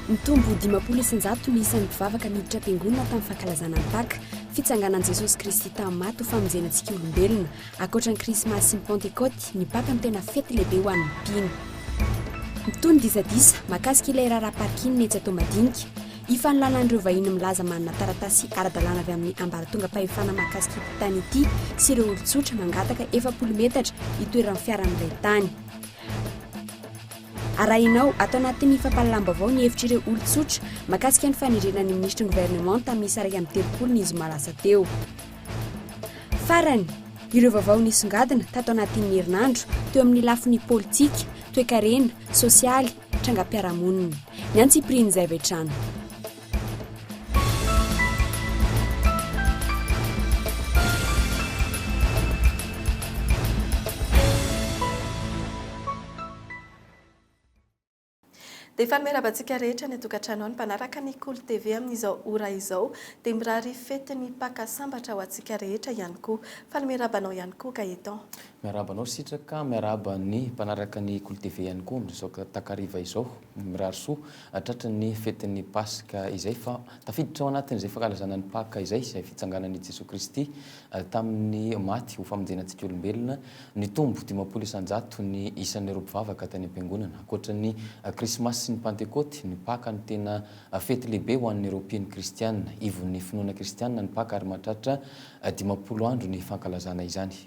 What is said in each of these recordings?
Nitombo dimampolo isanjato ny isan'ny mpivavaka niditra am-piangonana tamin'ny fankalazana ny Paka, fitsanganan'i Jesosy Kristy tamin'ny maty ho famonjena antsika olombelona. Ankoatra ny Krismasy sy ny Pantekôty, ny Paka no tena fety lehibe ho an'ny mpino. Mitohy ny disadisa mahakasika ilay raharaha parking etsy Toamadinika. Hifanolana an'ireo vahiny milaza manana taratasy ara-dalàna avy amin'ny ambaratongam-pahefana mahakasika ity tany ity sy ireo olon-tsotra mangataka efapolo metatra hitoeran'ny fiara amin'ilay tany. Arahina ao ato anatin'ny fampahalalam-baovao ny hevitr'ireo olon-tsotra mahakasika ny fanerena ny minisitry ny governemanta miisa iraika amby telopolo ny zoma lasa teo. Farany, ireo vaovao nisongadina tato anatin'ny herinandro teo amin'ny lafiny politika, toekarena, sosialy, trangam-piarahamonina, ny antsipirian'izay avy hatrany. Dia efa miarahaba antsika rehetra any an-tokantrano any mpanaraka ny Kolo TV amin'izao ora izao. Dia mirary fetin'ny Paka sambatra ho antsika rehetra ihany koa. Faly miarahaba anao ihany koa Gaëtan. Miarahaba anao Sitraka, miarahaba ny mpanaraka ny Kolo TV ihany koa amin'izao takariva izao. Mirary soa tratry ny fetin'ny Paska izay fa tafiditra ao anatin'izay fankalazana ny Paka izay, izay fitsanganan'i Jesoa Kristy tamin'ny maty ho famonjena antsika olombelona. Nitombo dimampolo isan-jato ny isan'ireo mpivavaka tany am-piangonana. Ankoatra ny Krismasy sy ny Pantekôty, ny Paka no tena fety lehibe ho an'ireo mpino kristiana. Ivon'ny finoana kristiana ny Paka ary mahatratra dimampolo andro ny fankalazana izany.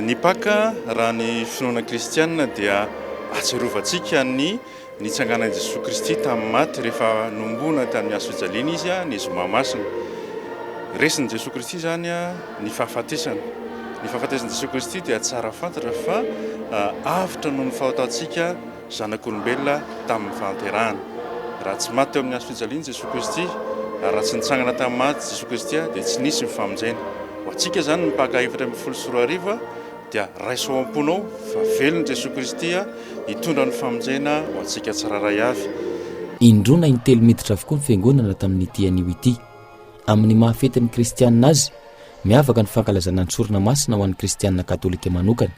Ny Paka, raha ny finoana kristiana dia ahatsiarovantsika ny nitsanganan'i Jesoa Kristy tamin'ny maty rehefa nohomboana tamin'ny hazo fijaliana Izy ny zoma masina. Resin'i Jesoa Kristy izany ny fahafatesana. Ny fahafatesan'i Jesoa Kristy dia tsara fantatra fa avotra noho ny fahotantsika, zanak'olombelona tamin'ny fahanterahana. Raha tsy maty teo amin'ny hazo fijaliany Jesoa Kristy, ary raha tsy nitsangana tamin'ny maty Jesoa Kristy, dia tsy nisy ny famonjena. Ho antsika izany, ny Paka efatra ambin'ny folo sy roa arivo, dia raiso ao am-ponao fa velona Jesoa Kristy hitondra ny famonjena ho antsika tsirairay avy. Indroana in-telo miditra avokoa ny Fiangonana tamin'ity anio ity. Amin'ny maha fetin'ny Kristianina azy, miavaka ny fankalazana ny Sorona Masina ho an'ny Kristianina Katolika manokana.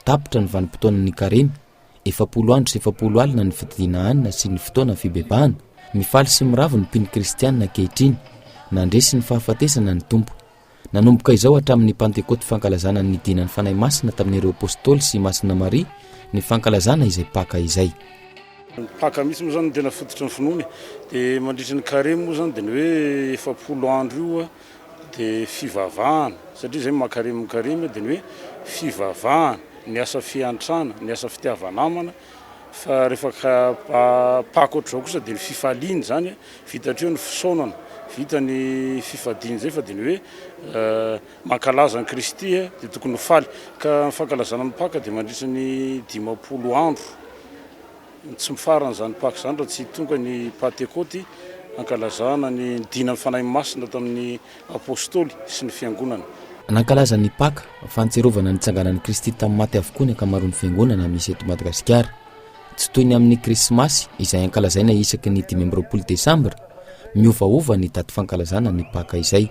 Tapitra ny vanim-potoanan'ny Karemy, Efapolo andro sy efapolo alina ny fididiana hanina sy ny fotoana fibebahana. Mifaly sy miravo ny mpino kristiana ankehitriny. Nandresy ny fahafatesana ny Tompo. Nanomboka izao hatramin'ny Pantekoty fankalazana ny nidinan'ny Fanahy Masina tamin'ireo Apostoly sy Masina Maria ny fankalazana izay Paka izay. Ny Paka mihitsy moa izany no tena fototry ny finoana e. Dia mandritra ny Karemy moa izany dia ny hoe efapolo andro io dia fivavahana satria izay makaremy mikaremy dia ny hoe fivavahana, ny asa fiantrana, ny asa fitiava-namana fa rehefa ka paka ohatr'izao kosa dia ny fifaliana izany vita hatreo ny fisaonana, vita ny fifadiana izay fa dia ny hoe mankalaza an'i Kristy dia tokony ho faly ka ny fankalazana ny paka dia mandritra ny dimampolo andro. Tsy mifarana izany Paka izany raha tsy tonga ny Pantekôty hankalazana ny nidinan'ny Fanahy Masina tamin'ny Apôstôly sy ny Fiangonana. Nankalaza ny Paka, Fahatsiarovana ny nitsanganan'i Kristy tamin'ny maty avokoa ny ankamaroan'ny Fiangonana misy eto Madagasikara. Tsy toy ny amin'ny Krismasy izay ankalazaina isaky ny dimy amby roapolo Desambra, miovaova ny daty fankalazana ny Paka izay.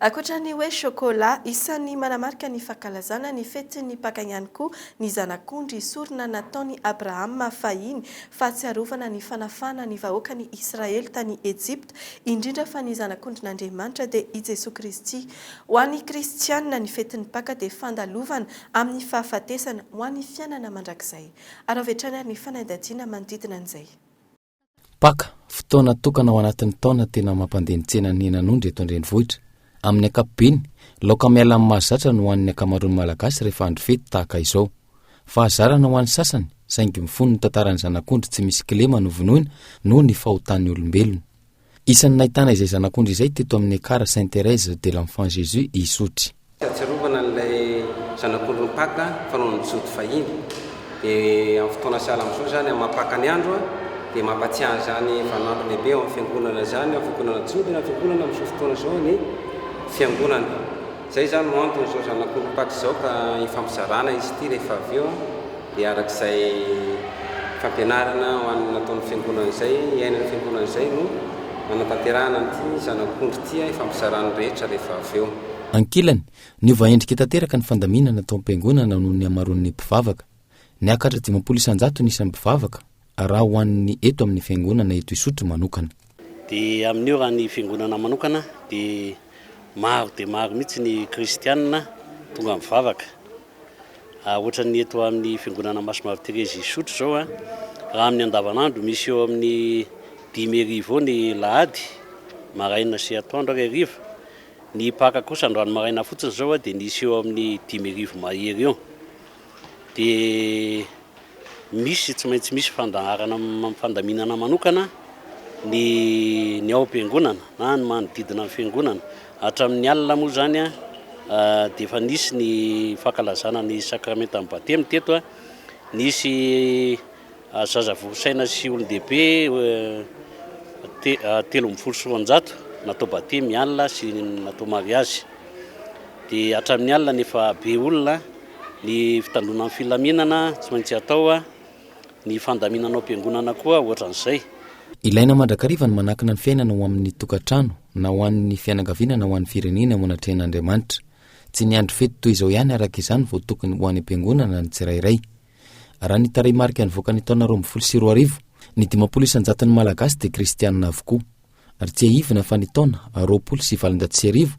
Ankoatra ny hoe chocolat, isan'ny manamarika ny fankalazana ny fetin'ny Paka ihany koa ny zanak'ondry sorona nataon'i Abrahama fahiny, fahatsiarovana ny fanafahana ny vahoakan'i Israely tany Ejipta, indrindra fa ny Zanak'ondrin'Andriamanitra dia i Jesoa Kristy. Ho an'ny kristiana, ny fetin'ny Paka dia fandalovana amin'ny fahafatesana ho an'ny fiainana mandrakizay. Araho avy hatrany ary ny fanadihadiana manodidina an'izay. Paka, fotoana tokana ao anatin'ny taona tena mampandeha ny tsenan'ny henan'ondry eto an-drenivohitra. Amin'ny ankapobeny, laoka miala amin'ny mahazatra no hohanin'ny ankamaroan'ny Malagasy rehefa andro fety tahaka izao. Fahazarana ho an'ny sasany, saingy mifono ny tantaran'ny zanak'ondry tsy misy kilema novonoina noho ny fahotan'ny olombelona. Isan'ny nahitana izay zanak'ondry izay teto amin'ny Ekar Sainte Thérèse de l'Enfant Jésus i Isotry. Tsy ahatsiarovana an'ilay zanak'ondry nipaka fa noho ny jody fahiny. Dia amin'ny fotoana sahala amin'izao izany, amin'ny maha-paka ny andro, dia mampatsiahy an'izany vaninandro lehibe eo amin'ny Fiangonana izany, na Fiangonana jody na Fiangonana amin'izao fotoana izao ny Fiangonana. Izay izany no antony izao zanak'ondry mipaka izao ka hifampizarana izy ity rehefa avy eo. Dia araka izay fampianarana ho an'ny nataon'ny Fiangonana izay, iainan'ny Fiangonana izay no nanatanterahana an'ity Zanak'ondry ity hifampizaran'ny rehetra rehefa avy eo. Ankilany, niova endrika tanteraka ny fandaminana tao am-piangonana noho ny hamaroan'ny mpivavaka. Niakatra dimampolo isan-jato ny isan'ny mpivavaka, raha ho an'ny eto amin'ny Fiangonana eto Isotry manokana. Dia amin'io raha ny Fiangonana manokana dia maro dia maro mihitsy ny Kristianina tonga mivavaka. Ohatran'ny eto amin'ny Fiangonana Masomavi Terezy Isotry izao a, raha amin'ny andavanandro misy eo amin'ny dimy heriva eo ny lahady, maraina sy atoandro ary hariva. Ny Paka kosa androany maraina fotsiny izao a dia nisy eo amin'ny dimy heriva mahery eo. dia misy tsy maintsy misy fandaharana am- fandaminana manokana ny ny ao am-piangonana na ny manodidina ny fiangonana hatramin'ny alina moa zany a ah, dia efa nisy ny fankalazana ny sakramentan'ny batemy teto a nisy Zaza vory saina sy olon-dehibe telo ambin'ny folo sy roanjato natao batemy ny alina sy natao mariazy. Dia hatramin'ny alina nefa be olona, ny fitandroana ny filaminana tsy maintsy atao, ny fandaminana ao am-piangonana koa ohatran'izay. Ilaina mandrakariva ny manankina ny fiainana ho amin'ny tokantrano, na ho an'ny fianakaviana na ho an'ny firenena eo anatrehan'Andriamanitra. Tsy ny andro fety toy izao ihany araka izany vao tokony ho any am-piangonana ny tsirairay. Raha ny tarehimarika nivoaka ny taona roa ambin'ny folo sy roa arivo, ny dimampolo isan-jaton'ny Malagasy dia kristianina avokoa. Ary tsiahivina fa ny taona roapolo sy valonjato sy arivo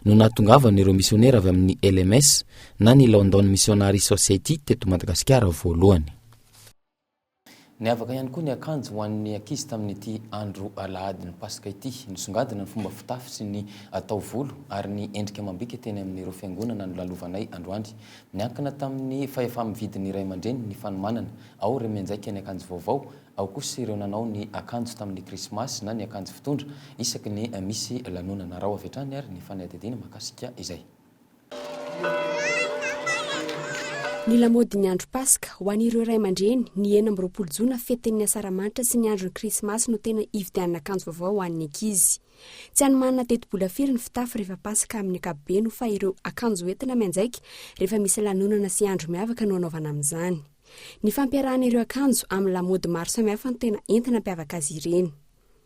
no nahatongavan'ireo misionera avy amin'ny LMS na ny London Missionary Society teto Madagasikara voalohany. Niavaka ihany koa ny akanjo ho an'ny ankizy tamin'ity andro alahadin'ny Paska ity. Nisongadina ny fomba fitafy sy ny taovolo ary ny endrika amam-bika teny amin'ireo fiangonana nolalovanay androany. Niankina tamin'ny fahefa-mividin'ny ray aman-dreny ny fanomanana, ao ireo mianjaika ny akanjo vaovao, ao kosa ireo nanao ny akanjo tamin'ny Krismasy na ny akanjo fitondra isaky ny misy lanonana. Araho avy hatrany ary ny fanadihadiana mahakasika izay. Ny lamaodin'ny andro Paska, ho an'ireo ray aman-dreny, ny enina amby roapolo jona fetin'ny Asaramanitra sy ny andron'ny Krismasy no tena hividianana akanjo vaovao ho an'ny ankizy. Tsy any manana tetibola firy ny fitafy rehefa Paska amin'ny ankapobeny fa ireo akanjo hoentina mianjaika rehefa misy lanonana sy andro miavaka no anaovana amin'izany. Ny fampiarahana ireo akanjo amin'ny lamaody maro samihafa no tena entina hampiavaka azy ireny.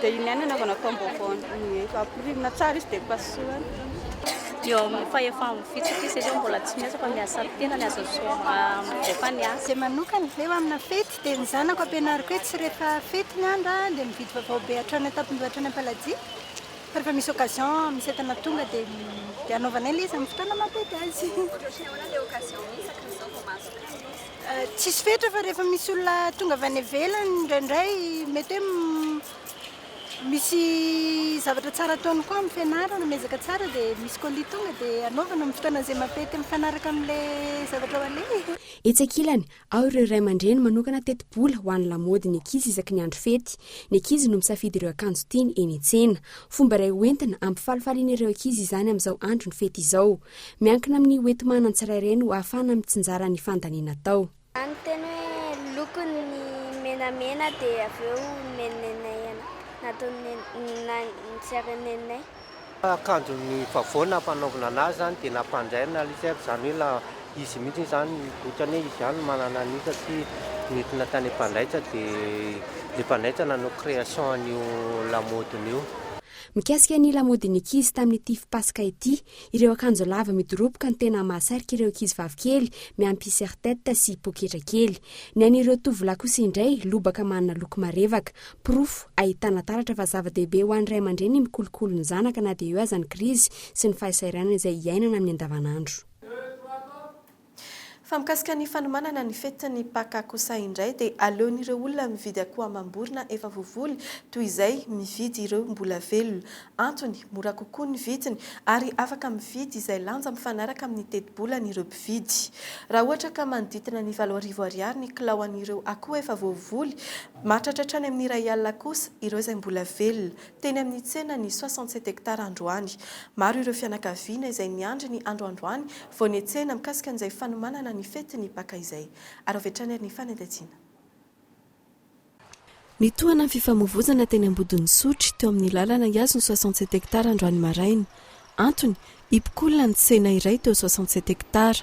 Dia iny ihany anaovana taom-baovao rehefa ampirimina tsara izy dia pasohana. Eo amin'ny fahefany mifitrika izy aloha mbola tsy miasa fa miasa tena ny azo atao rehefa ny asa. Dia manokana izay ho amina fety dia ny zanako ampianariko hoe tsy rehefa fety ny andro dia mividy vaovao be hatrany an-tampondoha hatrany am-paladia fa rehefa misy occasion misy entana tonga dia anaovanay ilay izy amin'ny fotoana maha-fety azy. Ohatra hoe tsy ahoana ilay occasion misy, hatrizao vao mahazo kamo izy. Tsisy fetra fa rehefa misy olona tonga avy any ivelany indraindray mety hoe misy zavatra tsara ataony koa amin'ny fianarana, miezaka tsara dia misy colis tonga dia anaovana amin'ny fotoana izay mampety mifanaraka amin'ilay zavatra ho aleha. Etsy ankilany, ao ireo ray aman-dreny manokana tetibola ho an'ny lamaody ny ankizy isaky ny andro fety. Ny ankizy no misafidy ireo akanjo tiany eny an-tsena. Fomba iray hoentina hampifalifaly an'ireo ankizy izany amin'izao andron'ny fety izao. Miankina amin'ny hoenti-manan tsirairay no ahafahana mitsinjara ny fandaniana atao. Raha ny teny hoe lokony ny menamena dia avy eo nenenay nataon'ny nenanay tsy ary nenay. Akanjo ny favor nampanaovina anazy zany dia nampanjairina ilay izy ary zany hoe la izy mihitsy zany otrany hoe izy ihany no manana an'io satria nentina tany mpandaitra dia le mpandaitra nanao creation an'io lamodiny io. Mikasika ny lamodin'ny ankizy tamin'ity fipasoka ity. Ireo akanjo lava midoroboka no tena mahasarika ireo ankizivavy kely, miampy serre-tête sy poketra kely. Ny an'ireo tovolahy kosa indray, lobaka manana loko marevaka. Porofo ahitana taratra fa zava-dehibe ho an'ny ray aman-dreny ny mikolokolo ny zanaka na dia eo aza ny krizy sy ny fahasahiranana izay iainana amin'ny andavanandro. Fa mikasika ny fanomanana ny fetin'ny Paka kosa indray dia aleon'ireo olona mividy akoho amam-borona efa voavoly toy izay mividy ireo mbola velona. Antony, mora kokoa ny vidiny ary afaka mividy izay lanja mifanaraka amin'ny tetibolany ireo mpividy. Raha ohatra ka manoditina ny valo arivo ariary ny kilao an'ireo akoho efa voavoly, mahatratra hatrany amin'ny iray alina kosa ireo izay mbola velona. teny amin'ny tsenan'ny soixante sept hectares androany. Maro ireo fianakaviana izay miandry ny andro androany vao nihetsehina mikasika an'izay fanomanana ny fetin'ny Paka izay. Ary avy hatrany ary ny fanentantiana. Nitohana ny fifamovoizana teny Ambodin'Isotry, teo amin'ny lalana hihazo ny soixante sept hectares androany maraina. Antony, hipokolona ny tsena iray teo soixante sept hectares.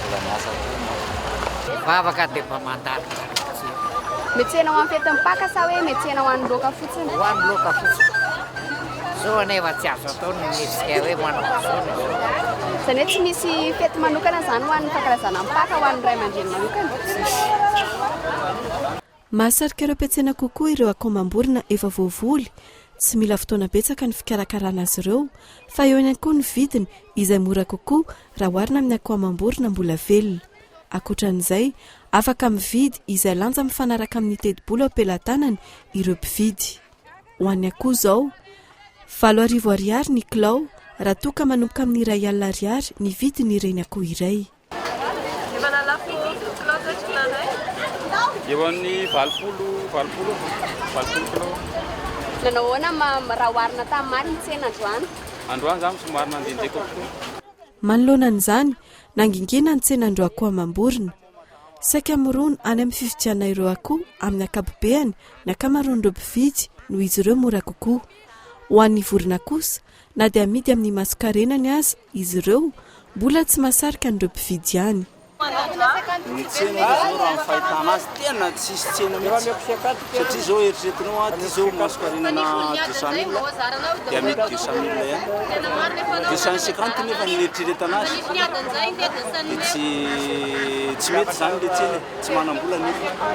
Mbola miasa koa ianao. Ny vavaka dia mba mandalo tsara fotsiny. Mihetsena ho an'ny fetin'ny Paka sa hoe mihetsena ho an'ny loaka fotsiny? Ho an'ny loaka fotsiny. Izao anefa tsy azo atao ny mihetsika hoe manao izao na izao. Izany hoe tsy misy fety manokana izany ho an'ny fankalazana ny Paka ho an'ny ray aman-dreny manokana? Tsisy. Mahasarika ireo mpiantsena kokoa ireo akomam-borona efa voavoly. Tsy mila fotoana betsaka ny fikarakarana azy ireo, fa eo ihany koa ny vidiny izay mora kokoa raha oharina amin'ny akoamam-borona mbola velona. Ankoatran'izay, afaka mividy izay lanja mifanaraka amin'ny tetibola eo am-pelatanany ireo mpividy. Ho an'ny akoho izao, valo arivo Ariary ny kilao raha toa ka manomboka amin'ny iray alina Ariary ny vidin'ireny akoho iray. Efa nalako douze kilao zay tsy nahay. Eo amin'ny valopolo, valopolo, valopolo kilao. Nanao ahoana mama raha oharina tamin'ny maty ny tsena androany? Androany za somary nandenjeka kokoa. Manoloana an'izany, nangingina ny tsenan'irooakoho amam-borona. Saika mirona any amin'ny fividianana ireo akoho amin'ny ankapobeany ny ankamaroan'ireo mpividy noho izy ireo mora kokoa. Ho an'ny vorona kosa, Na dia amidy amin'ny masonkarenany aza izy ireo, mbola tsy mahasarika an'ireo mpividy ihany. Ny tsena izy zao raha ny fahitana azy tena tsisy tsena mihitsy satria zao eritreretinao a ty zao masonkarenana deux cent mille dia amidy deux cent mille ihany deux cent cinquante nefa ny eritreretana azy dia tsy tsy mety zany le tsena e tsy manam-bola ny olona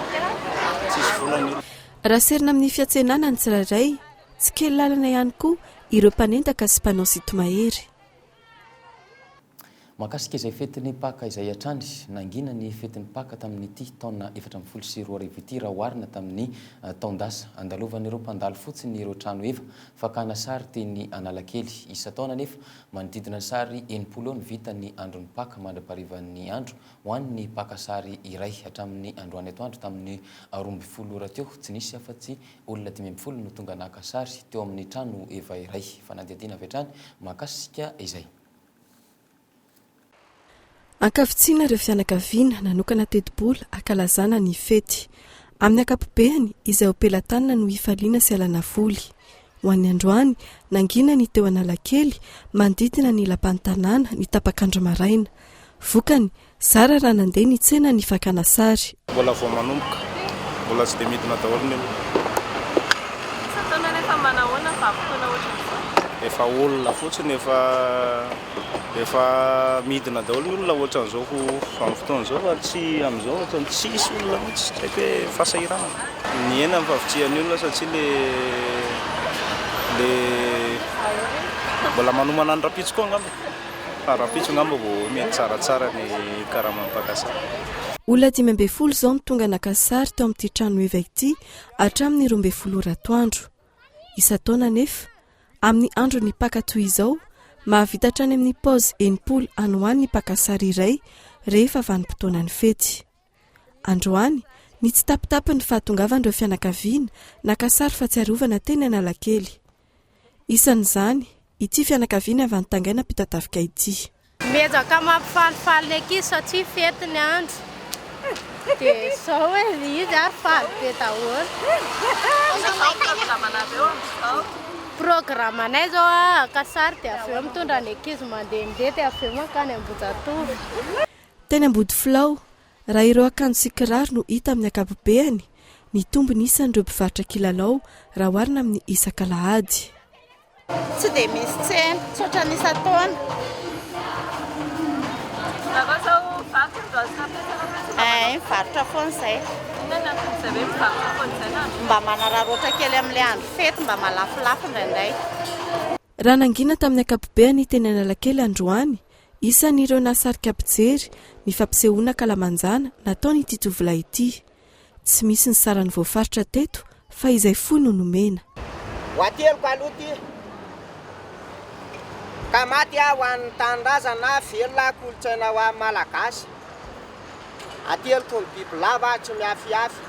tsisy vola ny olona. Raha serina amin'ny fiantsenana ny tsirairay Tsy kely lalana ihany koa ireo mpanendaka sy mpanao sinto-mahery. Mahakasika izay fetin'ny Paka izay hatrany, nangina ny fetin'ny Paka tamin'ity taona efatra ambin'ny folo sy roa arivo ity raha oharina tamin'ny taon-dasa. Andalovan'ireo mpandalo fotsiny ireo trano efa fakana sary teny Analakely. Isan-taona anefa, manodidina ny sary enimpolo eo no vita ny andron'ny Paka mandra-paharivan'ny andro ho an'ny mpaka sary iray. Hatramin'ny androany atoandro tamin'ny roa ambin'ny folo ora teo, tsy nisy afa-tsy Olona dimy ambin'ny folo no tonga naka sary teo amin'ny trano efa iray fanadihadiana avy hatrany mahakasika izay. Ankavitsiana ireo fianakaviana nanokana tetibola hankalazana ny fety. Amin'ny ankapobeany, izay ho pelatanana no hifaliana sy hialana voly. Ho an'ny androany, nangina ny teo Analakely, manodidina ny lapan'ny tanàna, ny tapak'andro maraina. Vokany, Zara raha nandeha ny tsena ny fakana sary. Mbola vao manomboka. Mbola tsy dia midina daholo ny olona. Isan-taona nefa manahoana fa vanim-potoana ohatran'izao? Efa olona fotsiny efa efa midina daholo ny olona ohatran'izao ho vanim-potoana izao fa tsy amin'izao ohatran'ny tsisy olona mihitsy tsy haiko hoe fahasahiranana. Mihena ny fahavitrihan'ny olona satria le le mbola manomana ny rahampitso koa angamba. Fa rahampitso angamba vao mety tsaratsara ny karaman'ny mpaka sary. Olona dimy ambin'ny folo izao no tonga naka sary tao amin'ity trano evaka ity hatramin'ny roa ambin'ny folo ora atoandro. Isan-taona anefa, amin'ny andron'ny Paka toy izao, mahavita hatrany amin'ny paozy enimpolo any ho any ny mpaka sary iray rehefa vanim-potoanan'ny fety. Androany, ny tsitapitapan'ny fahatongavan'ireo fianakaviana naka sary fahatsiarovana teny Analakely. Isan'izany, ity fianakaviana avy any Tangaina Ampitatafika ity. Miezaka mampifalifaly ny ankizy satria fety ny andro. Dia izao hoe izy ary faly be daholo. Programanay izao haka sary dia avy eo mitondra ny ankizy mandehandeha dia avy eo mankany Ambohijatovo. Teny Ambodifilao, raha ireo akanjo sy kiraro no hita amin'ny ankapobeany, mitombo ny isan'ireo mpivarotra kilalao raha oharina amin'ny isak'alahady. Tsy dia misy tsena, tsy ohatran'ny isan-taona. Raha izao vaky ny varotra ampiasaina fotsiny mba manao. Ee, mivarotra foana izay. Inona no anton'izay hoe mivarotra foana izay na andro fety? Mba manararaotra kely amin'ilay andro fety, mba malafolafo indraindray. Raha nangina tamin'ny ankapobeany teny Analakely androany, isan'ireo nahasarika mpijery ny fampisehoana an-kalamanjana nataon'ity tovolahy ity. Tsy misy ny sarany voafaritra teto fa izay fohy no nomena. Ho ateliko aloha ity ka maty aho ho an'ny tanindrazana na velona kolontsaina ho an'ny Malagasy. Aty alohako ny bibilava aho tsy mihafihafy.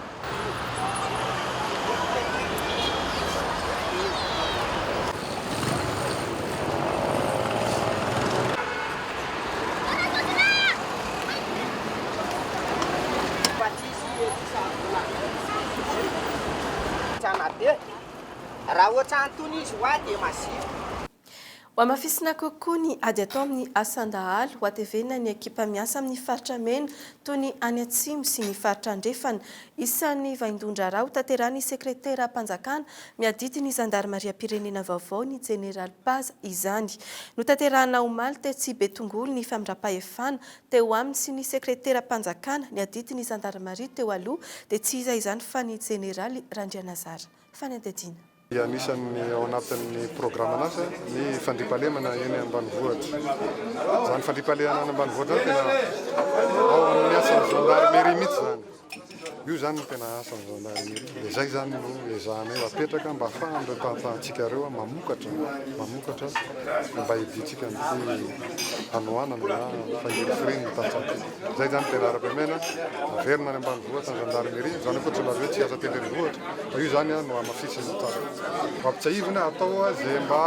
Raha ohatran'itony izy ho ahy dia mazoto. Hohamafisina kokoa ny ady atao amin'ny asan-dahalo, hohatevena ny ekipa miasa amin'ny faritra mena toy ny any Atsimo sy ny faritra Andrefana. Isan'ny vaindohan-draharaha hotanterahin'ny sekreteram-panjakana miadidy ny zandarimariam-pirenena vaovao, ny jeneraly Paza, izany. Notanterahina omaly tetsy Betongolo ny famindram-pahefana teo aminy sy ny sekreteram-panjakana niadidy ny zandarimaria teo aloha dia tsy iza izany fa ny jeneraly Randrianazara Fanindadiana. dia anisan'ny ao anatin'ny programan'asa ny fandriampahalemana eny ambanivohitra. Izany fandriampahalemana any ambanivohitra izany tena ao amin'ny asan'ny gendarmerie mihitsy izany. Io izany no tena asan'ny gendarmerie. Dia izay izany no ezahanay ho apetraka mba hahafahan'ireo mpahafahantsika ireo mamokatra, mamokatra mba hidiantsika amin'ity hanoanana na fahirifirian'ny tantsaha ity. Izay izany tena ara-pahamehana, averina any ambanivohitra ny gendarmerie, izany akoa tsy milaza hoe tsy hiasa aty an-drenivohitra, fa io izany no hamafisina tsara. Ho ampitsiahivina, atao izay mba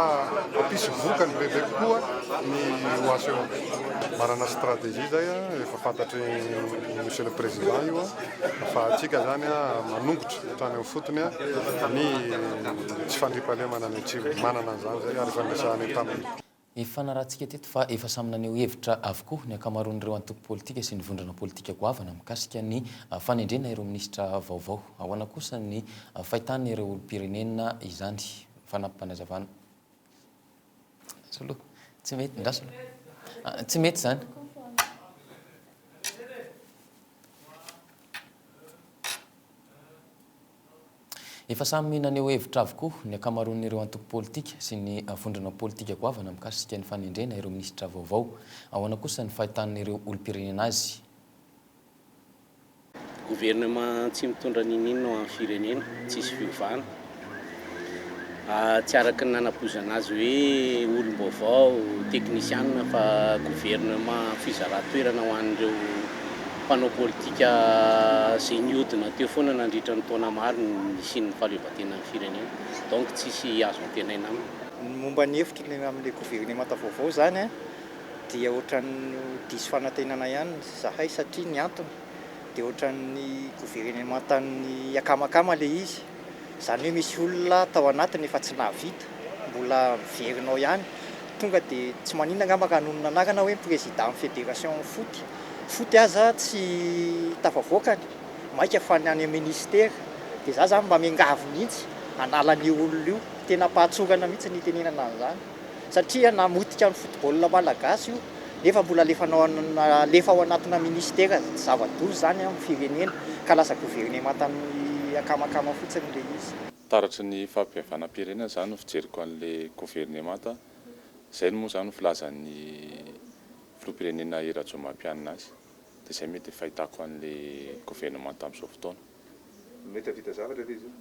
hampisy vokany bebe kokoa ny OHEO. Manana stratégie izay, efa fantatry Monsieur le Président io, fa antsika izany manongotra hatrany amin'ny fotony ny tsy fandriampahalemana any Atsimo. Manana an'izany izay ary efa niresahana entamin'ny. Ifanarahantsika teto fa efa samy naneho hevitra avokoa ny ankamaroan'ireo antoko politika sy ny vondrona politika goavana mikasika ny fanendrena ireo minisitra vaovao. Ahoana kosa ny fahitan'ireo olom-pirenena izany? Fanampim-panazavana. Soloa. Tsy mety. Ndra soloa. Tsy mety izany. Efa samy naneho hevitra avokoa ny ankamaroan'ireo antoko politika sy ny vondrona politika goavana mikasika ny fanendrena ireo minisitra vaovao. Ahoana kosa ny fahitan'ireo olom-pirenena azy? Governemant tsy mitondra n'inon'inona ho an'ny firenena, tsisy fiovana. Tsy araka ny nanapozana azy hoe olom-baovao, teknisianina fa governemanta fizaran-toerana ho an'ireo mpanao politika izay nihodina teo foana nandritra ny taona maro ny nisian'ny fahaleovantenan'ny firenena. Donc tsy hisy azo antenaina aminy. Ny momba ny hevitro ny amin'ilay governemanta vaovao izany dia ohatran'ny ho diso fanantenana ihany izahay satria ny antony dia ohatran'ny governemantan'ny akamakama ilay izy. Izany hoe misy olona tao anatiny efa tsy nahavita, mbola miverina ao ihany. Tonga dia tsy maninona angamba raha nonina anarana hoe Président Fédération Foot. Foot aza tsy tafavoaka ny maika fa ny any amin'ny Ministère. Dia za zany mba miangavy mihitsy hanala an'io olona io. Tena am-pahatsorana mihitsy ny itenenana an'izany. satria namotika ny football malagasy io nefa mbola alefa ao anatina ministera zava-doza zany amin'ny firenena ka lasa governemanta miakamakama fotsiny ilay izy. Taratry ny fampihavanam-pirenena zany no fijeriko an'ilay governemanta, izay no moa zany no filazan'ny filoham-pirenena I Rajaomampianina azy. Dia izay mety fahitako an'ilay governemanta amin'izao fotoana. Mety hahavita zavatra ve izy io?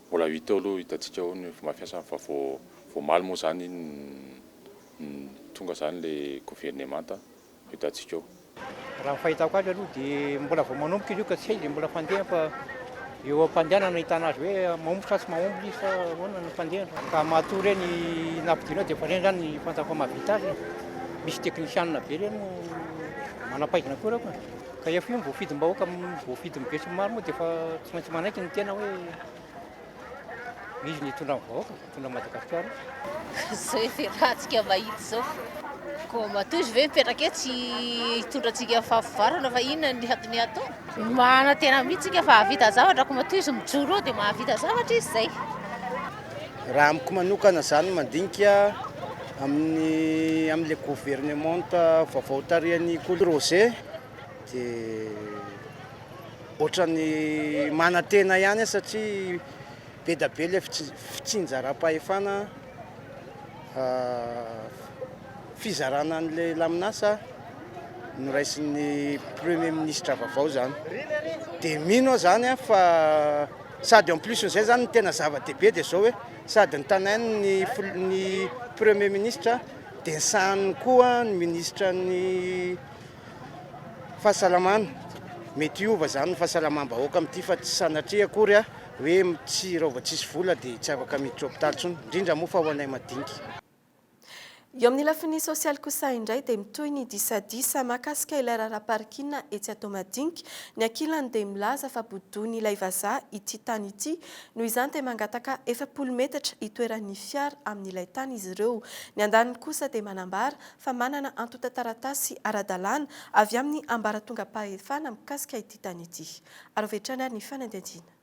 Mbola hita eo aloha, hitantsika eo ny fomba fiasany fa vao vao omaly moa izany iny no tonga izany ilay governemanta, hitantsika eo. Raha ny fahitako azy aloha dia mbola vao manomboka izy io ka tsy hay dia mbola fandeha fa. Eo am-pandehanana no ahitana azy hoe mahomby sa tsy mahomby izy sa ahoana ny fandehany. Ka matoa ireny nampidinao dia efa ireny izany ny fantako fa mahavita azy e. Misy teknisianina be ireny no manam-pahaizana koa ireo ka. Ka efa io ny voafidim-bahoaka, voafidin'ny besinimaro moa dia efa tsy maintsy manaiky ny tena hoe izy no hitondra ny vahoaka. Tonga Madagasikara. Zao efa iarahantsika mahita zao. Koa matoa izy ve mipetraka eo tsy hitondra antsika fahafivarana fa inona ny hatony atao? Manatena mihitsy tsika fa havita zavatra koa matoa izy mijoro eo dia mahavita zavatra izy zay. Raha amiko manokana zany mandinika amin'ny amin'ilay gouvernementa vaovao tarihan'i Kolo Roger dia ohatran'ny manatena ihany aho satria Be da be le fitsinjaram-pahefana fizarana an'ilay laminasa noraisin'ny premier ministre vaovao zany de mino aho zany a fa sady en plus n'izay zany ny tena zava-dehibe de zao hoe sady nitanain'ny ny premier ministre de ny sahaniny koa ny ministre ny fahasalamana mety hiova zany ny fahasalamam-bahoaka amin'ity fa tsy sanatria akory a Hoe tsy raha vao tsisy vola dia tsy afaka miditra hopitaly intsony, indrindra moa fa ho anay madinika. Eo amin'ny lafiny sosialy kosa indray dia mitohy ny disadisa mahakasika ilay raharaha parking etsy Antohomadinika. Ny ankilany dia milaza fa bodoin'ilay vazaha ity tany ity, noho izany dia mangataka efapolo metatra hitoeran'ny fiara amin'ilay tany izy ireo. Ny andaniny kosa dia manambara fa manana antontan-taratasy ara-dalàna avy amin'ny ambaratongam-pahefana mikasika ity tany ity. Araho avy hatrany ary ny fanadihadiana.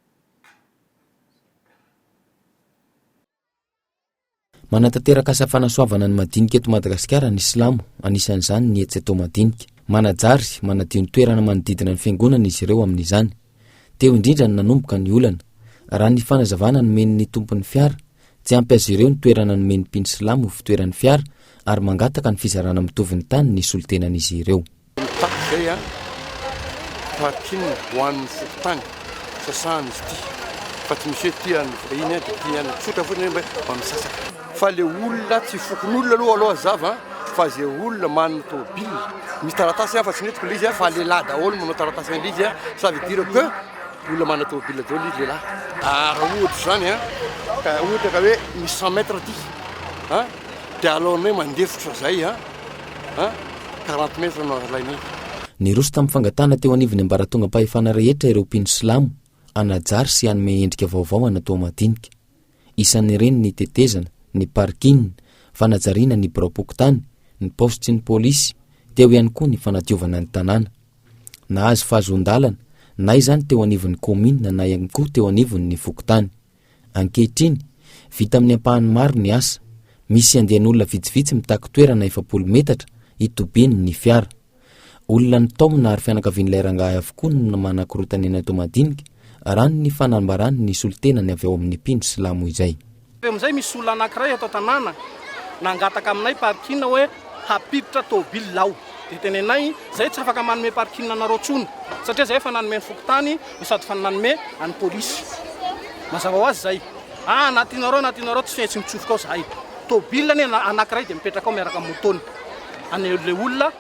Manatanteraka asa fanasoavana ny madinika eto Madagasikara ny Silamo, anisan'izany ny etsy atao madinika. Manajary, manadio ny toerana manodidina ny fiangonana izy ireo amin'izany. Teo indrindra no nanomboka ny olana. Raha ny fanazavana nomen'ny tompon'ny fiara, tsy ampy azy ireo ny toerana nomen'ny mpino silamo ho fitoeran'ny fiara ary mangataka ny fizarana mitovy ny tany ny solontenan'izy ireo. Mitaky izay an! Parking ho an'ny fokontany sasahana izy ity fa tsy misy hoe ity an'ny vahiny an, dia ity an'ny, tsotra fotsiny hoe mba misasaka. Fa le olona tsy fokonolona aloha aloha hazava an! Fa ze olona manana tômôbila misy taratasy an, fa tsy nentiko le izy an, fa lehilahy daholo no manao taratasy an'le izy an, ça veut dire que olona manana tômôbila daholo izy lehilahy. Ah, raha ohatra izany an! Ka ohatra ka hoe misy cent mètres ity an! Dia aleonay mandefotra izay an! a quarante mètres no alainay. Niroso tamin'ny fangatahana teo anivon'ny ambaratongam-pahefana rehetra ireo mpino silamo hanajary sy hanome endrika vaovao an'Atoa Madinika. Isan'ireny ny tetezana, ny parking, fanajariana ny biraom-pokontany, ny paositry ny polisy, teo ihany koa ny fanadiovana ny tanàna. Nahazo fahazoan-dalana, na izany teo anivon'ny kaominina na ihany koa teo anivon'ny fokontany. Ankehitriny, vita amin'ny ampahany maro ny asa. Misy andian'olona vitsivitsy mitaky toerana efapolo metatra hitobiany ny fiara. Olona nitaomina ary fianakavian'ilay rangahy avokoa no manakorotana eny Toamadinika, raha ny fanambaran'ny solontenany avy ao amin'ny mpino silamo izay. Teo amin'izay, misy olona anankiray eto an-tanàna nangataka aminay parking hoe hampiditra tomobilina aho. Dia tenenay, Izahay tsy afaka manome parking anareo intsony, satria izahay efa nanome ny fokontany no sady fa nanome an'ny polisy. Mazava ho azy izay. Ah, na tianao reo, na tianao reo, tsy fetsy mitsofoka ao zahay. Tôbila anie na- anankiray dia mipetraka ao miaraka amin'ny môtôny. Any le olona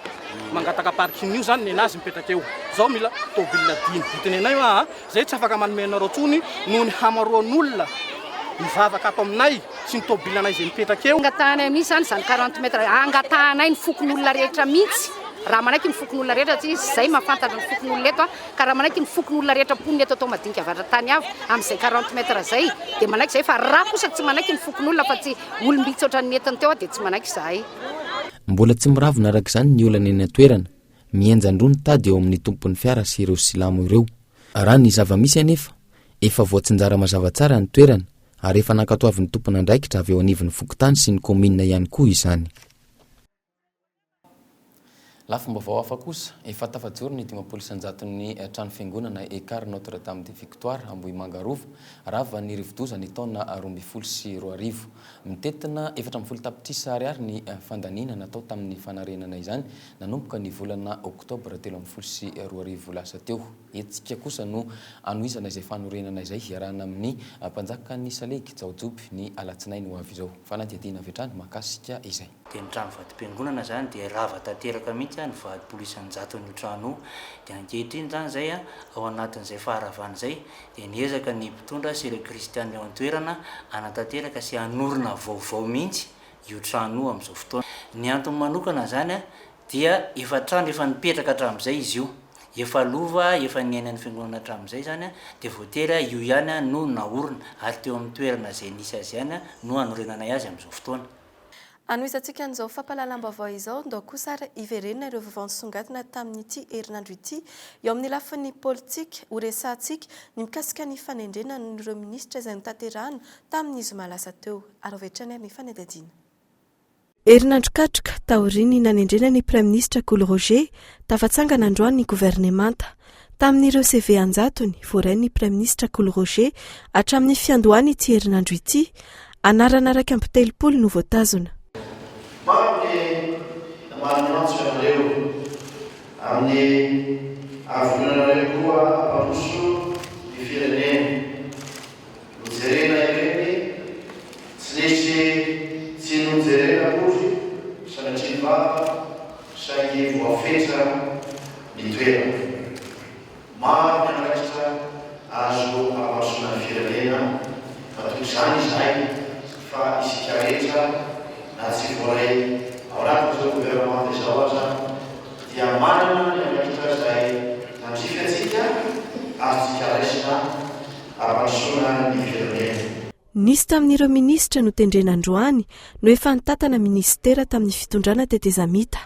mangataka parking io zany nenazy mipetraka eo. Zao mila tôbila dimy. Ho tenenay hoa a, zay tsy afaka manome anareo tsony noho ny hamaroan'olona mivavaka ato aminay sy ny tôbilanay izay mipetraka eo. Angatahanay mihitsy zany izany 40 mètres, angatahanay ny fokonolona rehetra mihitsy, raha manaiky ny fokonolona rehetra satria zay mahafantatra ny fokonolona eto a. Ka raha manaiky ny foko ny olona rehetra mponina eto atao madinika avadra tany avo amin' izay quarante mètres izay dia manaiky izahay fa raha kosa tsy manaiky ny fokon' olona fa tsy olom-bitsy ohatran' ny nentiny teo aho dia tsy manaiky izahay. Mbola tsy miravona araka izany ny olana eny an-toerana. Mihenjan-droa ny tady eo amin' ny tompon' ny fiara sy ireo silamo ireo. Raha ny zava-misy anefa, efa voatsinjara mazava tsara ny toerana ary efa nankatoavin' ny tompon' andraikitra avy eo anivon' ny fokontany sy ny kaominina ihany koa izany. Lafim-baovao hafa kosa, efa tafajoro ny dimampolo isan-jaton'ny trano fiangonana Ekar Notre Dame de Victoire Ambohimanga Rova, ravan'ny rivodoza ny taona roa ambin'ny folo sy roa arivo. Mitentina efatra ambin'ny folo tapitrisa ariary ny fandaniana natao tamin'ny fanarenana izany, nanomboka ny volana oktobra telo ambin'ny folo sy roa arivo lasa teo. Hetsika kosa no hanohizana izay fanorenana izay hiarahana amin'ny mpanjakan'ny salegy Jaojoby ny alatsinainy ho avy izao. Fanadihadiana avy hatrany mahakasika izay. dia ny trano vatom-piangonana izany dia rava tanteraka mihitsy a, nivadim-polo isan-jatony io trano io, dia ankehitriny izany izay a, ao anatin'izay faharavana izay dia niezaka ny mpitondra sy ireo kristiana eo an-toerana hanatanteraka sy hanorina vaovao mihitsy io trano io amin'izao fotoana. Ny antony manokana izany a, dia efa trano efa nipetraka hatramin'izay izy io, efa lova efa niainan'ny fiangonana hatramin'izay izany a, dia voatery a, io ihany a no naorina, ary teo amin'ny toerana izay nisy azy ihany a no hanorenanay azy amin'izao fotoana. Hanohizantsika an'izao fampahalalam-baovao izao, ndao kosa ary hiverenana ireo vaovao nisongadina tamin'ity herinandro ity eo amin'ny lafiny politika, horesahantsika ny mikasika ny fanendrena an'ireo minisitra izay notanterahina tamin'ny zoma lasa teo. Araho avy hatrany ary ny fanadihadiana. Herinandro katroka taorian'ny nanendrena ny praiminisitra Kolo Roger, tafatsangana androany ny governemanta. Tamin'ireo CV an-jatony voarain'ny Praiminisitra Kolo Roger hatramin'ny fiandohan' ity herinandro ity, anarana iraika amby telopolo no voatazona. Maro ny maniantso ianareo amin'ny ahavononanareo koa hampandroso ny firenena. Nojerena ireny tsy nisy tsy nojerena akory sanatria vava saingy voafetra ny toerana. Maro ny andraikitra azo hamarosoana ny firenena fa toy izany izahay fa isika rehetra na tsy voaray ao anatin'izao governemanta izao aza dia manana ny andraikitra izay tandrify antsika, azontsika raisina. hampandrosoana ny firenena. Nisy tamin'ireo minisitra notendrena androany no efa nitantana minisitera tamin'ny fitondrana tetezamita.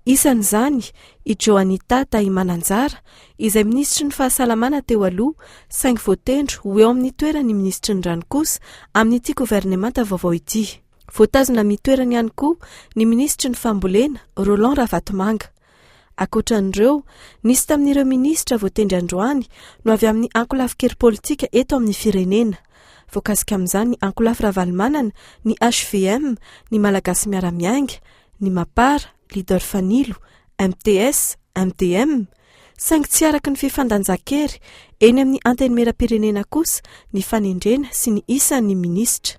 Isan'izany i Johanita Tahimananjara izay minisitry ny Fahasalamana teo aloha saingy voatendro ho eo amin'ny toeran'ny minisitry ny Rano kosa amin'ity governemanta vaovao ity. Voatazona amin'ny toerany ihany koa ny minisitry ny Fambolena, Roland Ravatomanga. Ankoatran'ireo, nisy tamin'ireo minisitra voatendry androany no avy amin'ny ankolafin-kery politika eto amin'ny firenena. Voakasika amin'izany ny ankolafy Ravalomanana, ny hvm, ny Malagasy Miara-Miainga, ny Mapar, Leader Fanilo, MTS, MDM. Saingy tsy araka ny fifandanjan-kery eny amin'ny Antenimieram-pirenena kosa ny fanendrena sy ny isan'ny minisitra.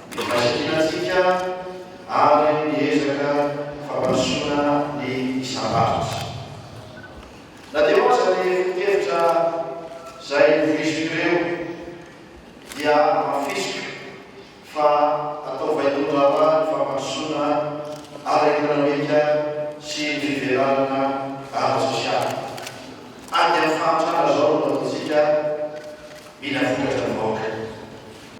Ny fahasahianantsika ary ny ezaka fampandrosoana ny isam-paritra. Na dia eo aza ny foto-kevitra izay novoiziko ireo dia amafisiko fa atao vaindohan-draharaha ny fampandrosoana ara-ekonomika sy ny fivelarana ara-tsosialy. Ady amin'ny fahantrana izao no ataontsika, mila vokatra ny vahoaka.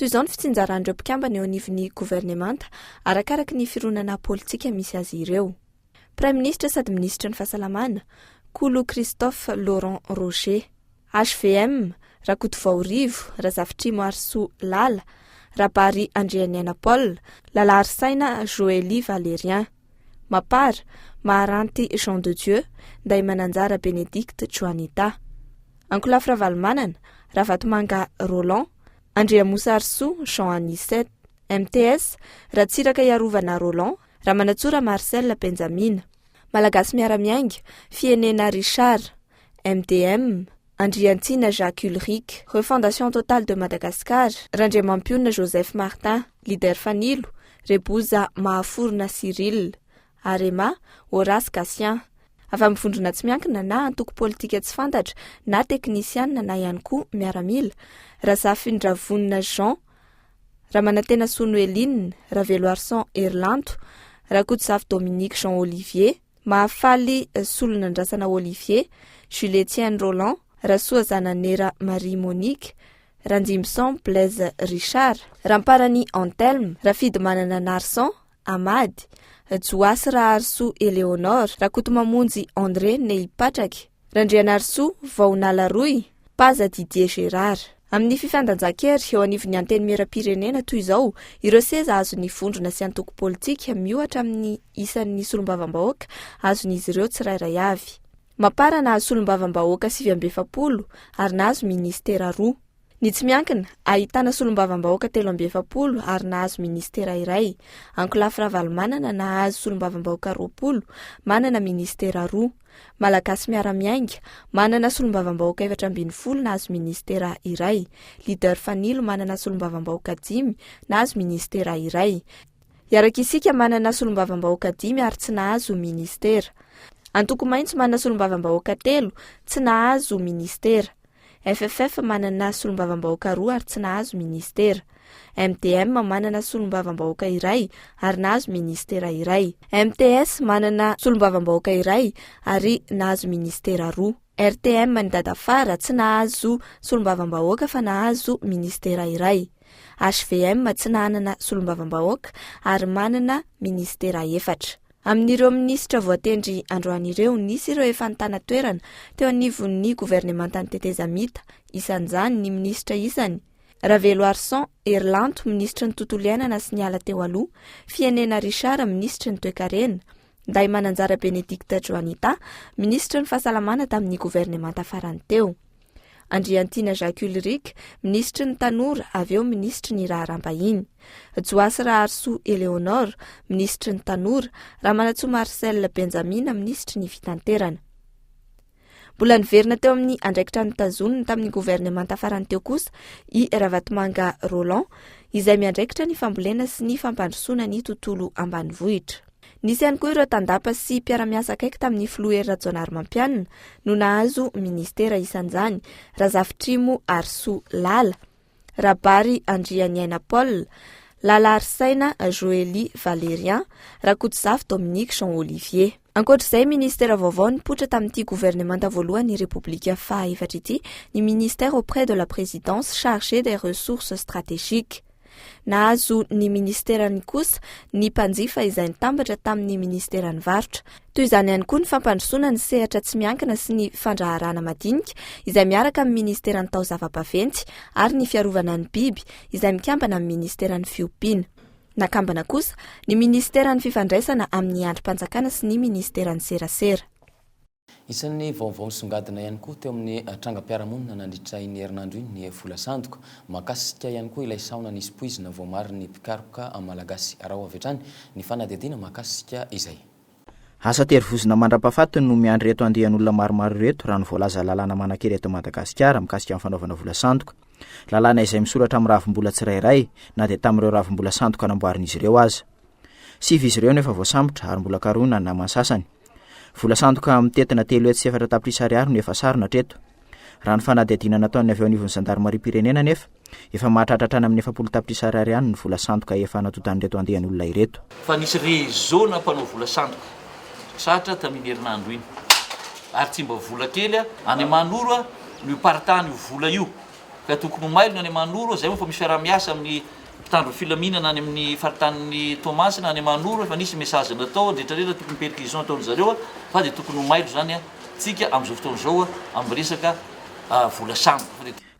Toy izao ny fitsinjaran'ireo mpikambana eo anivon'ny governemanta, arakaraka ny fironana politika misy azy ireo. Praiminisitra sady minisitry ny Fahasalamana, Kolo Christophe Laurent Roger. HVM, Rakotovao Rivo, Razafitrimo Harisoa Lala, Rabary Andrianiaina Paul, Lalaharisaina Joely Valérien. Mapar, Maharanty Jean de Dieu, Ndaimananjara Bénédicte Joanita. Ankolafy Ravalomanana, Ravatomanga Roland, Andriamosa Harisoa Jean Anicet. MTS, Ratsiraka Iarovana Roland, Ramanantsoa Ramarcel Benjamina. Malagasy Miara-miainga, Fienena Richard. MDM, Andriantsina Jacques Ulric, Refondation Totale de Madagascar, Randriamampionona Joseph Martin, Leader Fanilo, Reboza Mahaforona Cyrille. Arema, Horace Gatien. Avy amin'ny vondrona tsy miankina na antoko politika tsy fantatra na teknisianina na ihany koa miaramila, Razafindravonona Jean, Ramanantenasoa Noeline, Raveloarison Herilanto, Rakotozafy Dominique Jean Olivier, Mahafaly Solonandrasana Olivier, Jules-Etienne Roland, Rasoazana Nera Marie Monique, Randrimbison Blaise Richard, Ramparany Anthelme, Rafidimanana Narson, Amady, Johasy Raharisoa Eleonore, Rakotomamonjy André Nehipatraky, Randrianarisoa, Vaonala Roy, Paza Didier Gérard. Amin'ny fifandanjan-kery eo anivon'ny Antenimierampirenena toy izao, ireo seza azon'ny vondrona sy antoko politika miohatra amin'ny isan'ny solombavambahoaka azon'izy ireo tsirairay avy. Mapar nahazo solombavambahoaka sivy amby efapolo ary nahazo minisitera roa. Ny tsy miankina, ahitana solombavambahoaka telo amby efapolo ary nahazo minisitera iray. Ankolafy Ravalomanana nahazo solombavambahoaka roapolo, manana minisitera roa. Malagasy Miara-miainga, manana solombavambahoaka efatra ambin'ny folo nahazo minisitera iray. Leader Fanilo manana solombavambahoaka dimy, nahazo minisitera iray. Hiaraka Isika manana solombavambahoaka dimy ary tsy nahazo minisitera. Antoko Maitso manana solombavambahoaka telo, tsy nahazo minisitera. FFF manana solombavambahoaka roa ary tsy nahazo ministera. MDM manana solombavambahoaka iray ary nahazo ministera iray. MTS manana solombavambahoaka iray ary nahazo ministera roa. RTM an'i Dadafara tsy nahazo solombavambahoaka fa nahazo ministera iray. HVM tsy nanana solombavambahoaka ary manana ministera efatra. Amin'ireo minisitra voatendry androany ireo, nisy ireo efa nitana toerana teo anivon'ny governemantan'ny tetezamita, isan'izany ny minisitra isany, Raveloarison Herilanto, minisitry ny Tontolo iainana sy ny ala teo aloha, Fienena Richard, minisitry ny Toekarena, Ndahimananjara Benedicte Juanita, minisitry ny Fahasalamana tamin'ny governemanta farany teo. Andriantiana Jacques Ulrich, minisitry ny Tanora avy eo minisitry ny Raharaham-bahiny. Joasy Raharisoa Eleonore, minisitry ny Tanora, Ramanantsoa Marcel Benjamina, minisitry ny Fitanterana. Mbola niverina teo amin'ny andraikitra notazoniny tamin'ny governemanta farany teo kosa i Ravatomanga Roland, izay miandraikitra ny fambolena sy ny fampandrosoana ny tontolo ambanivohitra. Nisy ihany koa ireo tandapa sy mpiara-miasa akaiky tamin'ny filoha Hery Rajaonarimampianina no nahazo minisitera isan'izany, Razafitrimo Harisoa Lala, Rabary Andrianiaina Paul, Lala Harisaina Joely Valerian, Rakotozafy Dominique Jean Olivier. Ankoatra izay minisitera vaovao nipoitra tamin'ity governemanta voalohan'ny Repoblika faha efatra ity, ny Ministère auprès de la Présidence chargé des Ressources Stratégiques, Nahazo ny ministerany kosa ny mpanjifa izay nitambatra tamin'ny ministeran'ny varotra. Toy izany ihany koa ny fampandrosoana ny sehatra tsy miankina sy ny fandraharahana madinika izay miaraka amin'ny ministeran'ny taozava-baventy ary ny fiarovana ny biby izay mikambana amin'ny ministeran'ny fiompiana. Nakambana kosa ny ministeran'ny fifandraisana amin'ny andrim-panjakana sy ny ministeran'ny serasera. Isan'ny vaovao nisongadina ihany koa teo amin'ny trangam-piarahamonina nandritra iny herinandro iny ny vola sandoka. Mahakasika ihany koa ilay sahona nisy poizina voamarin'ny mpikaroka malagasy. Araho avy hatrany ny fanadihadiana mahakasika izay. Asa tery vozona mandrapahafatiny no miandry ireto andian'olona maromaro ireto, raha ny voalaza lalàna manan-kery eto Madagasikara mikasika ny fanaovana vola sandoka. Lalàna izay misoratra amin'ny ravimbola tsirairay, na dia tamin'ireo ravimbola sandoka namboarin'izy ireo aza. Sivy izy ireo no efa voasambotra ary mbola karohina ny namany sasany. Vola sandoka mitentina telo hetsy sy efatra tapitrisa ariary no efa sarona hatreto. Raha ny fanadihadiana nataon'ny avy eo anivon'ny zandarimariam-pirenena anefa, efa mahatratra hatrany amin'ny efapolo tapitrisa ariary ihany ny vola sandoka efa natodan'ireto andian'olona ireto. Fa nisy réseau-na mpanao vola sandoka tratra tamin'iny herinandro iny ary tsy mba vola kely a! Any Mahanoro no iparitahan'io vola io ka tokony ho mailo ny any Mahanoro, izay moa fa misy fiaraha-miasa amin'ny. mpitandro ny filaminana any amin'ny faritanin'i Toamasina any Mahanoro efa nisy message natao andretraretra tokony perquisition ataon-dry zareo fa dia tokony ho mailo izany tsika amin'izao fotoana izao amin'ny resaka vola sambo.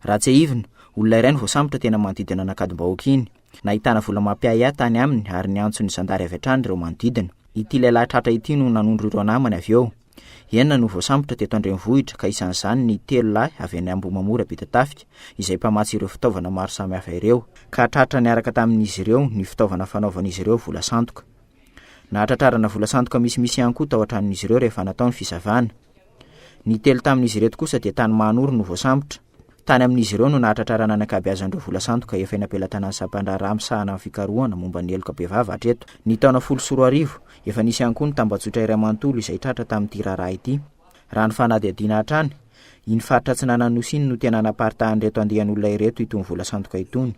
Raha tsiahivina, olona iray no voasambotra teny amin'ny manodidina an'Ankadimbahoaka iny. Nahitana vola mampiahiahy tany aminy ary niantso ny zandary avy hatrany ireo manodidina. Ity lehilahy tratra ity no nanondro ireo namany avy eo. Enina no voasambotra teto an-drenivohitra ka isan'izany ny telo lahy avy any Ambohimamora Ampitatafika izay mpamatsy ireo fitaovana maro samihafa ireo ka tratra niaraka tamin'izy ireo ny fitaovana fanaovan'izy ireo vola sandoka. Nahatratrarana vola sandoka misimisy ihany koa tao an-tranon'izy ireo rehefa natao ny fisavana. Ny telo tamin'izy ireto kosa dia tany Mahanoro no voasambotra. Tany amin'izy ireo no nahatratrarana ny ankabeazan'ireo vola sandoka efa eny am-pelatanan'ny sampan-draharaha misahana ny fikarohana momba ny heloka bevava hatreto. Ny taona folo sy roa arivo, efa nisy ihany koa ny tambajotra iray manontolo izay tratra tamin'ity raharaha ity. Raha ny fanadihadiana hatrany, iny faritra Atsinanan'Nosy iny no tena naparitahan'ireto andian'olona ireto itony vola sandoka itony.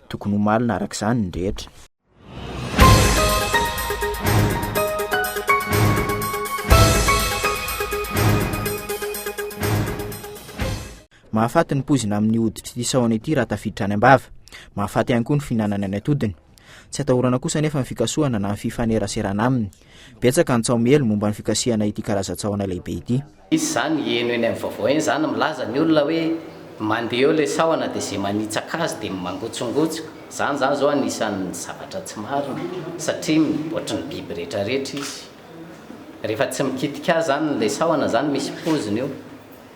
Tokony ho malina araka izany ny rehetra. Mahafaty ny poizina amin'ny hoditr'ity sahona ity raha tafiditra any am-bava. Mahafaty ihany koa ny fihinanana ny atodiny. Tsy atahorana kosa anefa ny fikasohana na ny fifaneraserana aminy. Betsaka ny tsaomiely momba ny fikasihana ity karazan-tsahona lehibe ity. Misy izany heno eny amin'ny vaovao eny izany milaza ny olona hoe mandeha eo ilay sahona dia izay manitsaka azy dia mangotsongotsika. Izany izany izao anisan'ny zavatra tsy marina satria ohatry ny biby rehetra rehetra izy. Rehefa tsy mikitika azy izany ilay sahona izany misy pozina io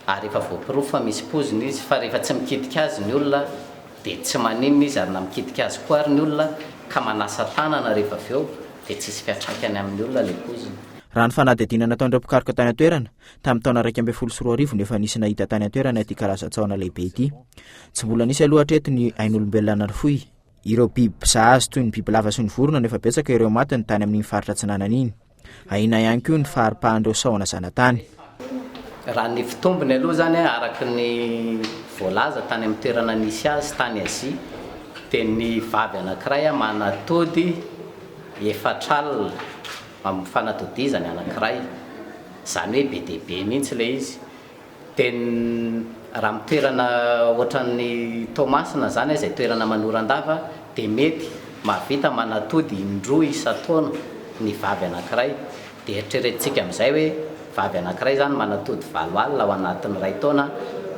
ary efa voaporofo fa misy pozina izy fa rehefa tsy mikitika azy ny olona dia tsy maninona izy ary na mikitika azy koa ary ny olona ka manasa tanana rehefa avy eo dia tsisy fiantraikany amin'ny olona ilay poizina. Raha ny fanadihadiana nataon'ireo mpikaroka tany an-toerana, tamin'ny taona iraika ambin'ny folo sy roa arivo no efa nisy nahita tany an-toerana ity karazan-tsahona lehibe ity. Tsy mbola nisy aloha hatreto ny ain'olombelona narofoy ireo biby mpizaha azy toy ny bibilava sy ny vorona no efa betsaka ireo maty ny tany amin'iny faritra atsinanana iny. Ahiana ihany koa ny faharipahan'ireo sahona zanatany. Raha ny fitombony aloha izany araka ny voalaza tany amin'ny toerana nisy azy tany Azia dia ny vavy anankiray manatody efatr'alina amin'ny fanatodizany anankiray. Izany hoe be dia be mihitsy ilay izy. Teny raha amin'ny toerana ohatran'ny Toamasina izany izay toerana manoran-dava dia mety mahavita manatody indroa isan-taona ny vavy anankiray. Dia eritreretintsika amin'izay hoe vavy anankiray izany manatody valo alina ao anatin'ny iray taona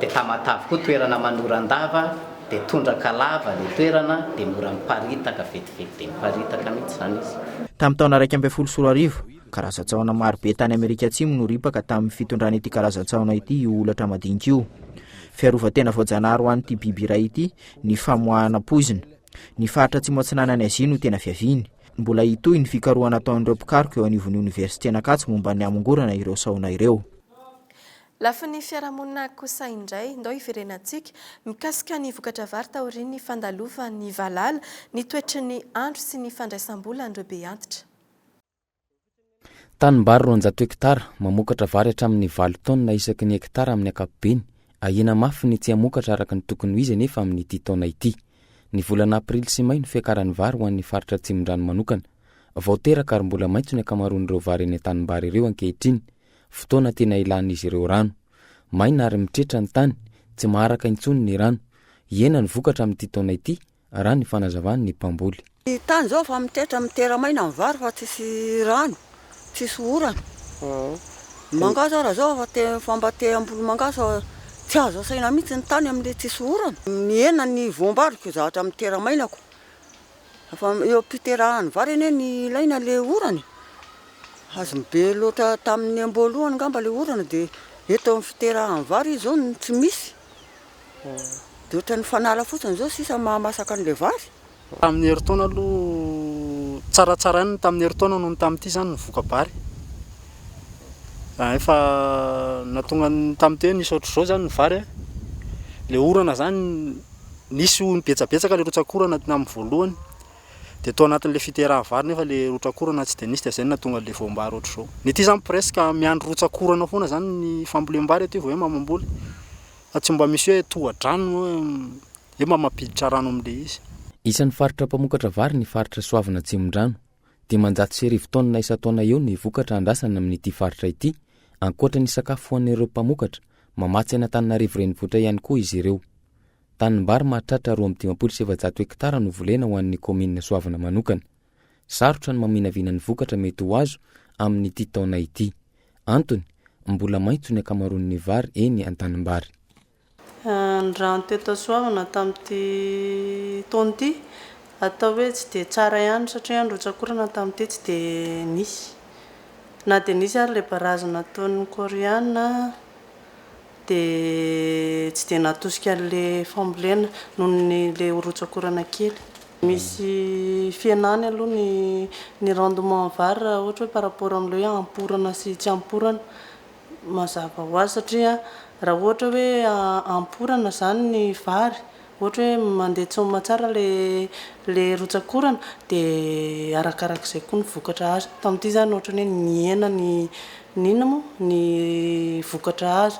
dia Tamatave koa toerana manoran-dava dia tondraka lava ilay toerana dia mora miparitaka vetivety dia miparitaka mihitsy izany izy. Tamin'ny taona iraika ambin'ny folo sy roa arivo, Karazan-tsahona maro be tany Amerika Atsimo no ripaka tamin'ny fitondran'ity karazan-tsahona ity io holatra madinika io. Fiarovan-tena voajanahary ho an'ity biby iray ity ny famoahana poizina. Ny faritra Atsimo Atsinanan'i Azia no tena fiaviany. Mbola hitohy ny fikarohana ataon'ireo mpikaroka eo anivon'ny Oniversiten'Ankatso momba ny hamongorana ireo sahona ireo. Lafiny fiarahamonina kosa indray, ndao hiverenantsika mikasika ny vokatra vary taorian'ny fandalovan'ny valala, ny toetry ny andro sy ny fandraisam-bolan'ireo be antitra. Tanimbary roanjato hektara, mamokatra vary hatramin'ny valo taonina isaky ny hektara amin'ny ankapobeny, ahiana mafy ny tsy hamokatra araka ny tokony ho izy anefa amin'ity taona ity. Ny volana aprily sy may no fiakaran'ny vary ho an'ny faritra Atsimondrano manokana. Vao teraka ary mbola maitso ny ankamaroan'ireo vary eny an-tanimbary ireo ankehitriny, fotoana tena ilan'izy ireo rano. Maina ary mitretra ny tany, tsy maharaka intsony ny rano. Hihena ny vokatra amin'ity taona ity, raha ny fanazavan' ny mpamboly. Ny tany izao efa mitetra mitera-maina ny vary fa tsisy rano, tsisy orana. Ny mangahazo ary izao efa te efa mba te hamboly mangahazo fa tsy azo asaina mihitsy ny tany amin'ilay tsisy orana. Mihena ny voam-bariko zatra mitera-mainako. Efa eo am-piterahan'ny vary anie ny ilaina le orana e. Azony be loatra tamin'ny amboalohany ngamba le orana dia eto amin'ny fiterahan'ny vary izao no tsy misy. Dia ohatran'ny fanala fotsiny izao sisa ny mahamasaka an'ilay vary. Tamin'ny herintaona aloha tsaratsaraina ny tamin'ny herintaona noho ny tamin'ity izany ny voka-bary. Efa nahatonga ny tamin'ity hoe nisy ohatr'izao izany ny vary. Ilay orana izany, nisy hono betsabetsaka ilay rotsak'orana tamin'ny voalohany, dia tao anatin'ilay fiteraha-vary nefa ilay rotsak'orana tsy dia nisy dia izay no nahatonga ilay voam-bary ohatr'izao. Ny aty izany presque miandry rotsak'orana foana izany ny fambolem-bary aty vao hoe mamam-boly. Fa tsy mba misy hoe tohadrano hoe hoe mba mampiditra rano amin'ilay izy. Isan'ny faritra mpamokatra vary ny faritra Soavina Atsimondrano. Dimanjato sy arivo taonina isan-taona eo ny vokatra andrasana amin'ity faritra ity, ankoatra ny sakafo fohan'ireo mpamokatra, mamatsy an'Antananarivo renivohitra ihany koa izy ireo. Tanimbary mahatratra roa amby dimampolo sy efajato hektara no volena ho an'ny kaominina Soavina manokana. Sarotra ny maminavina ny vokatra mety ho azo amin'ity taona ity. Antony, mbola maitso ny ankamaroan'ny vary eny an-tanimbary. Ny rano tetasoavina tamin'ity taona ity atao hoe tsy dia tsara ihany satria ny rotsak'orana tamin'ity tsy dia nisy. Na dia nisy ary ilay barazy nataon'ny Koreana, dia tsy dia natosika an'ilay fambolena noho ny ilay ho rotsakorana kely. Misy fihenany aloha ny ny rendement vary raha ohatra hoe par rapport amin'ilay hoe amporana sy tsy amporana, mazava ho azy satria raha ohatra hoe amporana izany ny vary, Ohatra hoe mandeha tsy aman-tsara ilay rotsak'orana dia arakarak'izay koa ny vokatra azo. Tamin'ity izany ohatran'ny hoe nihena ny inona moa? ny vokatra azo.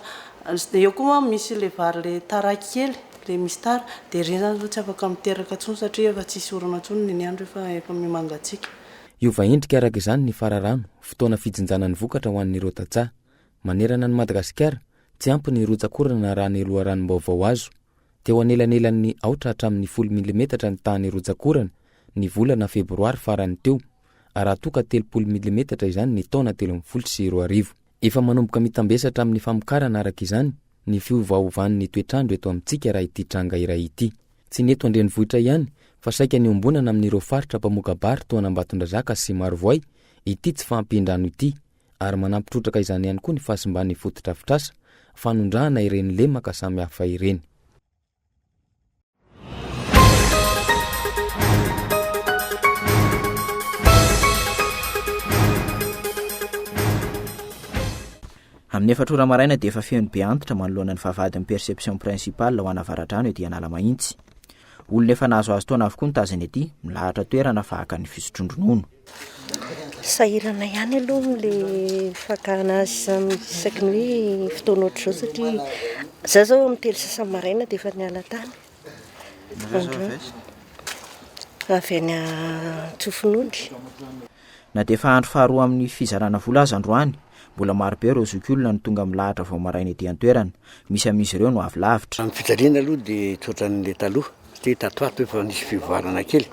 Eo koa manko misy ilay vary ilay tara kely, ilay misy tara, dia ireny izany izao tsy afaka miteraka intsony satria efa tsy hisy orana intsony ny ny andro efa efa miha-mangatsiaka. Hiova endrika araka izany ny fararano, fotoana fijinjana ny vokatra ho an'ireo tantsaha. Manerana an'i Madagasikara, tsy ampy ny rotsak'orana raha ny loharanom-baovao azo. Teo anelanelan'ny aotra hatramin'ny folo milimetatra ny tahan'ny rotsak'orana ny volana febroary farany teo, raha toa ka telopolo milimetatra izany ny taona telo ambin'ny folo sy roa arivo. Efa manomboka mitambesatra amin'ny famokarana araka izany ny fiovaovan'ny toetr'andro eto amintsika raha ity tranga iray ity. Tsy ny eto an-drenivohitra ihany fa saika niombonana amin'ireo faritra mpamoka-bary toa an'Ambatondrazaka sy Marovoay ity tsy fahampian-drano ity, ary manampy trotraka izany ihany koa ny fahasimban'ny fotodrafitrasa, fanondrahana ireny lemaka samihafa ireny. Amin'ny efatra ora maraina dia efa feno be antitra manoloana ny vavahadin'ny perception principale ho ana avaradrano ety Analamahitsy. Olona efa nahazoazo taona avokoa ny tazany ety, milahatra toerana fa haka ny fisotroan-dronono. Sahirana ihany aloha amin'ilay fakana azy izany isaky ny hoe fotoana ohatr'izao satria izaho izao amin'ny telo sasa maraina dia efa niala tany. Avy any Antsofinondry. Na dia efa andro faharoa amin'ny fizarana vola aza androany, Mbola maro be ireo zokiolona no tonga milahatra vao maraina ety an-toerana. Misy amin'izy ireo no avy lavitra. Ny fijaliana aloha dia tsy ohatran'ilay taloha satria tato ho ato efa nisy fivoarana kely.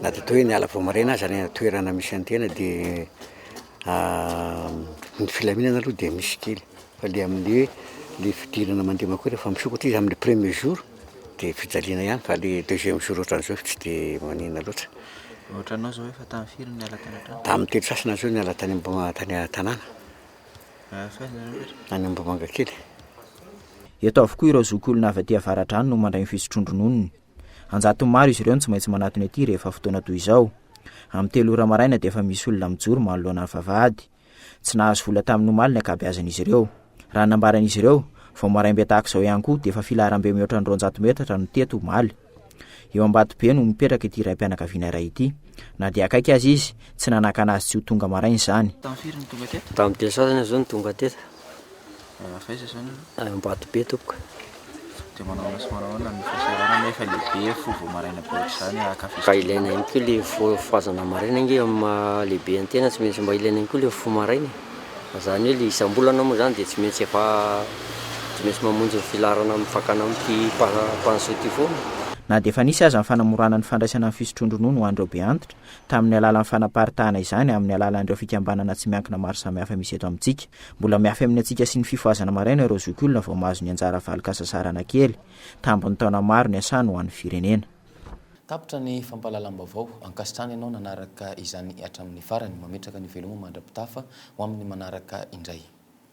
Na dia toa hoe niala vao maraina aza any an-toerana misy an'ny tena dia ny filaminana aloha dia misy kely. Fa ilay amin'ny hoe ilay fidirana mandeha mankao rehefa misokatra izy amin'ny premier jour. Dia fijaliana ihany fa le deuxième jour otran'izao tsy dia maninona loatra. Otranao zao efa tany firy no niala tany an-trano? Tamin'ny telo sasany zao niala tany Ambohimanga tany an-tanàna. Avy aiza nareo rehetra? Any Ambohimanga kely. Eto avokoa ireo zokiolona avy aty Avaradrano no mandray ny fisotroan-drononony. An-jatony maro izy ireo no tsy maintsy manatona ety rehefa fotoana toy izao. Amin'ny telo ora maraina dia efa misy olona mijoro manoloana ny vavahady. Tsy nahazo vola tamin'ny omaly ny ankabeazan'izy ireo. Raha ny nambaran'izy ireo, vao maraimbe tahaka izao ihany koa dia efa filaharambe mihoatra ny roanjato metatra no teto omaly. Eo Ambatobe no mipetraka ity raim-pianakaviana iray ity. Na dia akaiky aza izy, tsy nanakana azy tsy ho tonga maraina izany. Tamin'ny firy no tonga teto? Tamin'ny telo sasany aho izao no tonga teto. Manao f'aiza zany anao? Any Ambatobe tompoko. Dia manao ahoana sy manao ahoana ny fisaorana anie efa lehibe ny fo vao maraina be ohatr'izany ah, ka Mba ilaina ihany koa le fo fohazana maraina ange amin'ny maha lehibe an'ny tena, tsy maintsy mba ilaina ihany koa le fo maraina e! Fa zany hoe le isam-bolana moa zany dia tsy maintsy efa tsy maintsy mamonjy ny filaharana amin'ny fakana amin'ity mpanjohy ity foana e! Na dia efa nisy aza ny fanamorana ny fandraisana ny fisotroan-dronono ho an'ireo be antitra, tamin'ny alalan'ny fanaparitahana izany amin'ny alalan'ireo fikambanana tsy miankina maro samihafa misy eto amintsika. Mbola miafy amin'ny antsika sy ny fifohazana maraina ireo zokiolona vao mahazo ny anjara valin-kasasarana kely, tambin'ny taona maro niasany ho an'ny firenena. Tapitra ny fampahalalam-baovao. Ankasitrahana ianao nanaraka izany hatramin'ny farany. Mametraka ny veloma mandra-pitafa ho amin'ny manaraka indray.